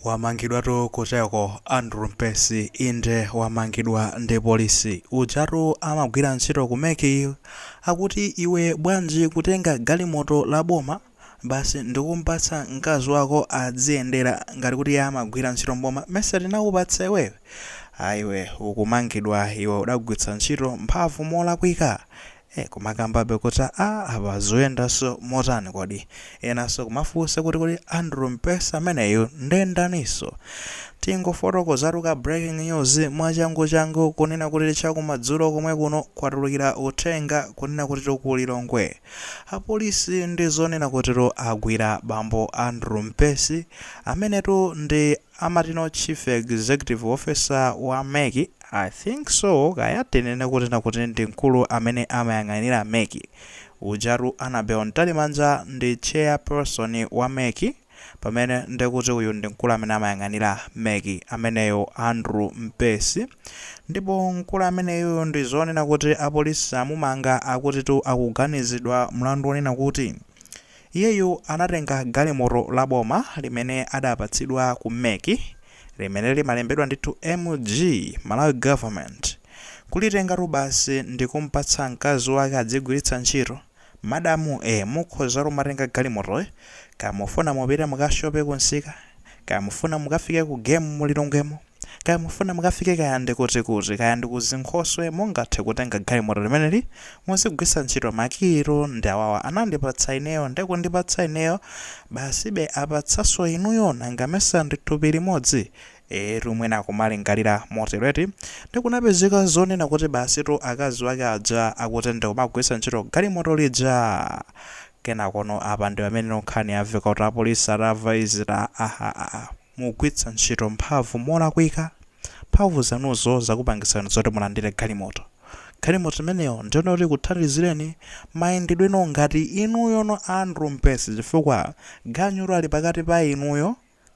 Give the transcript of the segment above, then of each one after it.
Wamangidwatu kucheko Andrew Mpesi inde wamangidwa ndi polisi ujatu amagwira ntchito ku mec akuti iwe bwanji kutenga galimoto la boma basi ndikumpatsa mkazi wako adziyendera ngati kuti iye amagwira ntchito mboma mesa tinakupatsa iweyo ayiwe ukumangidwa iwe udagwiritsa ntchito mphamvu molakwika Eee kumakambabe kuti aah apa zuyendaso motani kodi? Enaso kumafunsa kuti kodi Andrew Mpesi ameneyu nde ndaniso? Tingofotokozatu ka breaking news mwachangu changu kunena kuti chakumadzulo komwe kuno kwatulukira uthenga kunena kutitu ku Lilongwe apolisi ndizonena kutitu agwira bambo Andrew Mpesi amenetu ndi Amati no chief executive officer wa mec i think so kaya tinene kuti na kuti ndi mkulu amene amayang'anira mec ujatu Anabel Ntalimanja ndi chairperson wa mec pamene nde kuti uyu ndi mkulu amene amayang'anira mec ameneyo Andrew Mpesi ndipo mkulu ameneyuyu ndi zonena kuti apolisi amumanga akutitu akuganizidwa mlandu onena kuti Iyeyu anatenga galimoto la boma limene adapatsidwa ku mec limene limalembedwa ndithu MG, Malawi Government. Kulitengatu basi ndikumpatsa mkazi wake adzigwiritsa ntchito. Madamu ee mukhozatu kumatenga galimotoyo kaya mufuna mupite mukashope kumsika kaya mufuna mukafike ku game mu Lilongwemo. Kaya mufuna mukafike kaya ndi kuti kuti, kaya ndi ku zinkhoswe, mungathe kutenga galimoto limeneli, muzigwiritsa ntchito ma key tu ndi awawa anandipatsa ineyo nde kundipatsa ineyo basibe apatsanso inuyo nanga mesa ndi thupi limodzi? Eetu mwina akumalingalira motero eti. Nde kunapezeka zonena kuti basi tu akazi wake aja akuti ndi kumagwiritsa ntchito galimoto lija! Kenakono apa ndi pamene no nkhani yamveka kuti apolisi atamva izi ta ahahaha. mukugwiritsa ntchito mphamvu molakwika. Mphamvu zanuzo zakupangitsani zoti mulandire galimoto. Galimoto imeneyo ndi yonena zoti ikuthandizireni mayendedweno ngati inuyono Andrew Mpesi chifukwa ganyutu ali pakati pa inuyo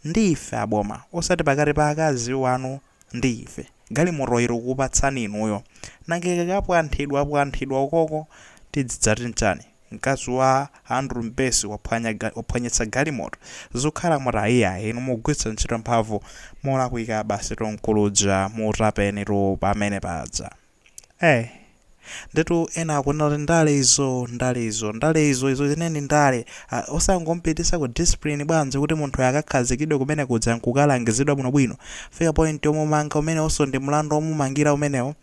ndi ife aboma osati pakati pa akazi wanu ndi ife. Galimotoyi tikukupatsani inuyo. Nanga ikakapwanthidwapwanthidwa ukoko tidzidzati nchani? Mkazi wa Andrew Mpesi waphwanya ga, waphwanyitsa galimoto zikhala motani iyayi inu mugwiritsa ntchito mphamvu molakwika basitu mkulu uja mutapenitu pamene paja. Eh. Ndetu ena akunena kuti ndale izo, ndale izo, ndale izo, izo zenizeni ndale. Ah, osangompitisa ku discipline bwanji kuti munthuyo akakhazikidwe kumene kuja nkukalangizidwa bwinobwino. Fika point yomumanga umenewonso ndi mlandu womumangira umenewo.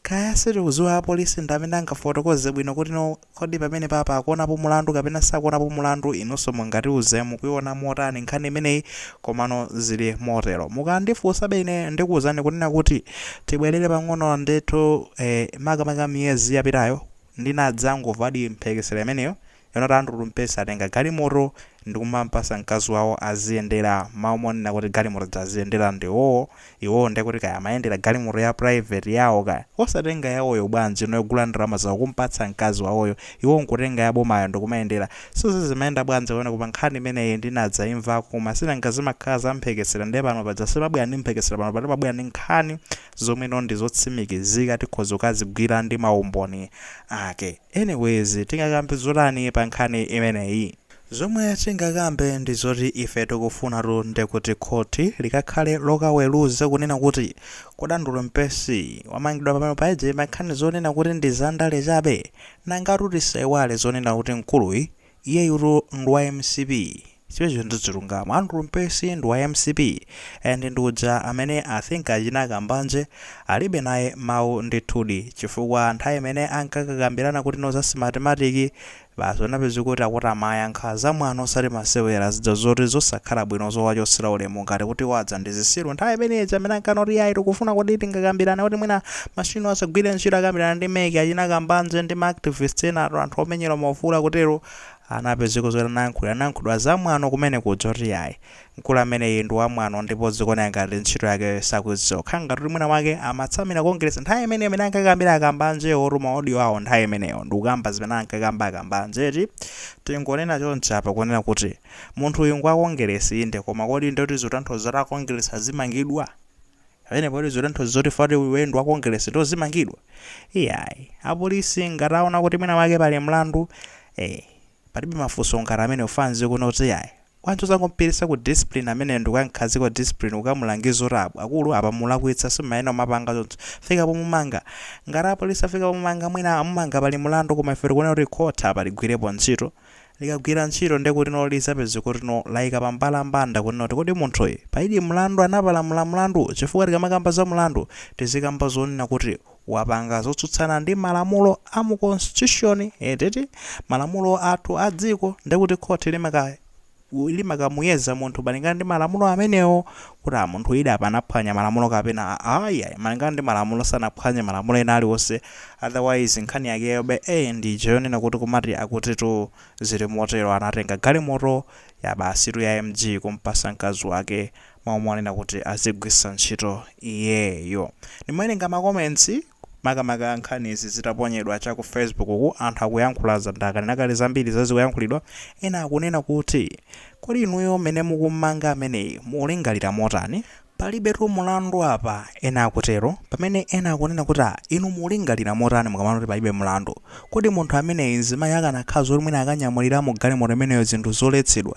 Kaya sitikuziwa apolisi ndi amene angafotokoze bwino kuti kodi pamenepapa akuonapo mlandu kapena sakuonapo mlandu inuso mungatiuze mukuiona motani nkhani imeneyi komano zili motero mukandifunsabe ine ndikuuzani kunena kuti tibwerere pang'ono ndithu ee makamaka miyezi yapitayo ndinadzangomvadi mphekesera imeneyo Yonena kuti Andrew Mpesi atenga galimoto ndikumampatsa mkazi wawo aziyendera mmalo monena kuti galimoto zija aziyendera ndi iwowo, iwowo nde kuti kaya amayendera galimoto ya private yawo kaya. Osatenga yawoyo bwanji ino yogula ndalama zawo kumpatsa mkazi wawoyo, iwowo nkutenga ya bomayo ndikumayendera. So sizimayenda bwanji pamenepa nkhani imeneyi ndinadzaimvako koma sinanga zimakhala za mphekesera nde pano paja sipabwera ndi mphekesera panopa timabwera ndi nkhani zomwe ino ndizotsimikizika tikhoza kukazigwira ndi maumboni ake. Anyways tingakambe zotani pa nkhani imeneyi? Zomwe tingakambe ndi zoti ife tikufunatu nde kuti khothi likakhale lokaweluza kunena kuti kodi Andrew Mpesi wamangidwa pamenepo paja pa nkhani zonena kuti ndi za ndale chabe? Nangatu tisaiwale zonena kuti mkuluyi iyeyutu ndi wa mcp. Zimenezo ndi chilungamo. Andrew Mpesi ndi wa mcp and ndi uja amene I think achina Kambanje alibe naye mau ndithudi chifukwa nthawi imene ankakakambirana kuti no za Smartmatic basi unapeze kuti akuti amayankha za mwano osati masewera zija zoti zosakhala bwino zowachosera ulemu ngati kuti iwo aja ndi zisiru nthawi imene ija amene ankana kuti yayi tikufuna kuti tingakambirane kuti mwina machine asagwire ntchito akambirana ndi mec achina Kambanje ndi ma activist ena anthu omenyera maufulu akutero Anapezeko zoti anayankhulira anayankhulidwa zamwano kumene kuja kuti iyayi mkulu ameneyi ndi wamwano ndipo zikuoneka ngati ntchito yake sakuidziwa kukhala ngati kuti mwina mwake amatsamira Kongeresi nthawi imeneyo imene ankakambira a Kambanjewotu ma audio awo nthawi imeneyo ndikukamba zimene ankakamba a Kambanje eti tingonena chonchi apa kunena kuti munthu uyu ngwa Kongeresi inde koma kodi ndoti zikutanthauza kuti a Kongeresi azimangidwa? Pamene poti zikutanthauza zoti ngati iweyo ndi wa Kongeresi ndiye uzimangidwa? Iyayi. Apolisi ngati aona kuti mwina mwake pali mlandu, eh, palibe mafunso ngati amenewo ena akuona kuti iyayi, bwanji osangomupititsa ku discipline ameneyo ndi kukam'khazika ku discipline, kukamulangiza kuti a, akulu apa mulakwitsa simumayenera kumapanga choncho. Fika pomumanga. Ngati apolisi afika pomumanga mwina amumanga pali mlandu koma ifenso tikuona kuti khoti apa ligwirepo ntchito. likagwira ntchito nde kuti lizapeze kutino laika pa mbalambanda kunena kuti kodi munthuyi palidi mlandu anapalamula mlandu chifukwa tikamakamba za mlandu tizikamba zonena kuti wapanga zotsutsana ndi malamulo a mu constitution eti malamulo athu a dziko ndekuti khothi limaka limakamuyeza munthu malingana ndi malamulo amenewo kuti munthu uja apa anaphwanya malamulo kapena ayi ayi malingana ndi malamulo sanaphwanye malamulo ena aliwonse otherwise nkhani yakeyobe e ndi ija yonena kuti komatu akutitu zili motero anatenga galimoto yabwasitu ya MEC kumpatsa mkazi wake mmalo monena kuti azigwiritsa ntchito iyeyo ndimawerenga makomentsi makamaka nkhani izi zitaponyedwa cha ku Facebook uku anthu akuyankhula za ndakanena kale zambiri zimene zikuyankhulidwa ena akunena kuti kodi inuyo mmene mukummanga ameneyi mukulingalira motani palibetu mulandu apa ena akutero pamene ena akunena kuti ah inu mukulingalira motani mukamaona kuti palibe mlandu kodi munthu ameneyi mzimayi akanakhala zoti mwina akanyamulira mu galimoto imeneyo zinthu zoletsedwa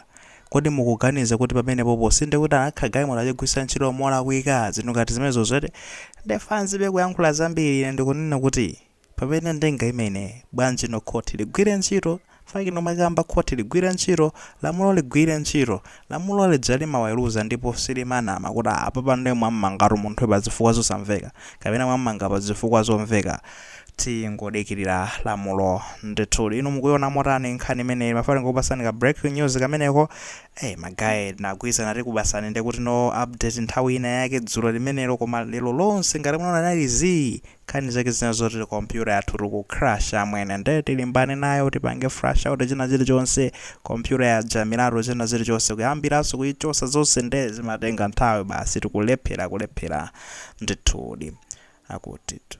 Kodi mukuganiza kuti pamenepopo sindikuti anakha galimoto achigwirisa ntchito molakwika zinthu ngati zimenezozo eti? Nde fam zibe kuyankhula zambiri ine ndikunena kuti pamene ndinga ime ine bwanji no khoti ligwire ntchito chifukwa inu makamba khoti ligwire ntchito lamulo ligwire ntchito lamulo lija limaweruza ndipo silimanama kuti apapa ndiye mwammangatu munthuyu pazifukwa zosamveka kapena mwammanga pazifukwa zomveka Tingodikilira lamulo ndithudi. Inu mukuiona motani nkhani imeneyi? Mafana ndingokupasani ka breaking news kameneko. Hey, ma guy tinagwirizana tikupasani nde kuti no update nthawi ina yake dzulo limenelo koma lero lonse ngati munaona nali zii nkhani zake zina zoti kompyuta yathu ikuchita crash amwene nde tilimbana nayo tipange flash out china chilichonse kompyuta yaja milato china chilichonse kuyambiranso kuichosa zonse nde zimatenga nthawi basi tikulephera kulephera ndithudi akutitu